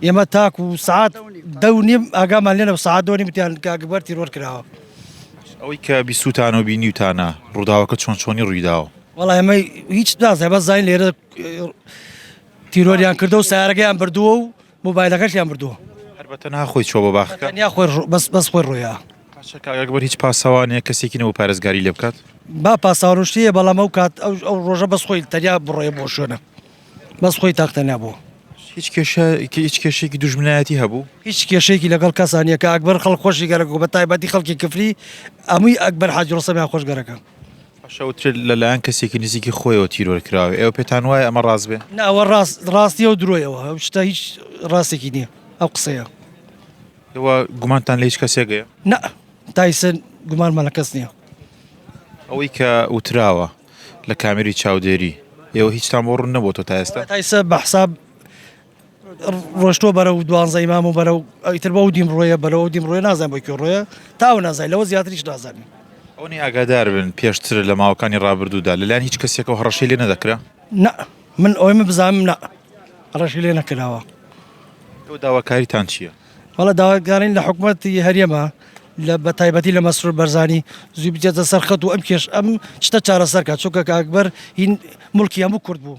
ئێمە تاکو سەعات دە و نیم ئاگامان لێ نەبوو، سەعات دە و نیم وتیان کە ئەکبەر تیرۆر کراوە. ئەوەی کە بیستووتانە و بینیوتانە، ڕووداوەکە چۆن چۆنی ڕووی داوە؟ وەڵا ئێمە هیچ نازانین، بەس زانین لێرە تیرۆریان کردووە و سەیارەکەیان بردووە و مۆبایلەکەشیان بردووە. هەر بە تەنها خۆی چووە بۆ باخەکە؟ تەنیا خۆی ڕۆ، بەس بەس خۆی ڕۆیە. باشە کاک ئەکبەر هیچ پاسەوان یان کەسێکی نەبوو پارێزگاری لێ بکات؟ با پاسەوان و شتی هەیە، بەڵام ئەو کات ئەو ڕۆژە بەس خۆی تەنیا بڕۆیە بۆ ئەو شوێنە. بەس خۆی تاقتە نەبوو. هیچ کێشە هیچ کێشێکی دوژمنایەتی هەبوو؟ هیچ کێشەیەکی لەگەڵ کەسا نیە کە ئەکبەر خەڵک خۆشی گەرەک و بە تایبەتی خەڵکی کفری ئەموی ئەکبەر حاجی ڕۆستەمیان خۆش گەرەکە. شەوتر لەلایەن کەسێکی نزیکی خۆیەوە تیرۆر کراوە ئێوە پێتان وایە ئەمە ڕاست بێ؟ نا ئەوە ڕاست ڕاست نیە و درۆیەوە ئەو شتە هیچ ڕاستێکی نییە ئەو قسەیە. ئێوە گومانتان لە هیچ کەسێک هەیە؟ نا تا ئیسە گومانمان لە کەس نییە. ئەوەی کە وتراوە. لە کامێری چاودێری ئێوە هیچتان بۆ ڕوون نەبۆتەوە تا ئێستا؟ تایسە بە حساب ڕۆشتۆ بەرە و دوانزەی مام و بەرە و ئەویتر بە و دیم ڕۆیە بەرە و دیم ڕۆێ نازان بۆ کوێ ڕۆیە تاو نازای لەوە زیاتریش نازانین ئەونی ئاگادار بن پێشتر لە ماوەکانی ڕابردوودا لەلایەن هیچ کەسێکە و هەڕەشەی لێ نەدەکرا نە من ئەوەی من بزانم نە ڕەشی لێ نەکراوە تۆ داواکاریتان چییە؟ وەڵا داواکارین لە حکومەتی هەرێمە لە بە تایبەتی لە مەسرور بەرزانی زوی بجێتە سەرخەت و ئەم کێش ئەم شتە چارەسەرکە چونکە کاکبەر هین ملکی هەموو کورد بوو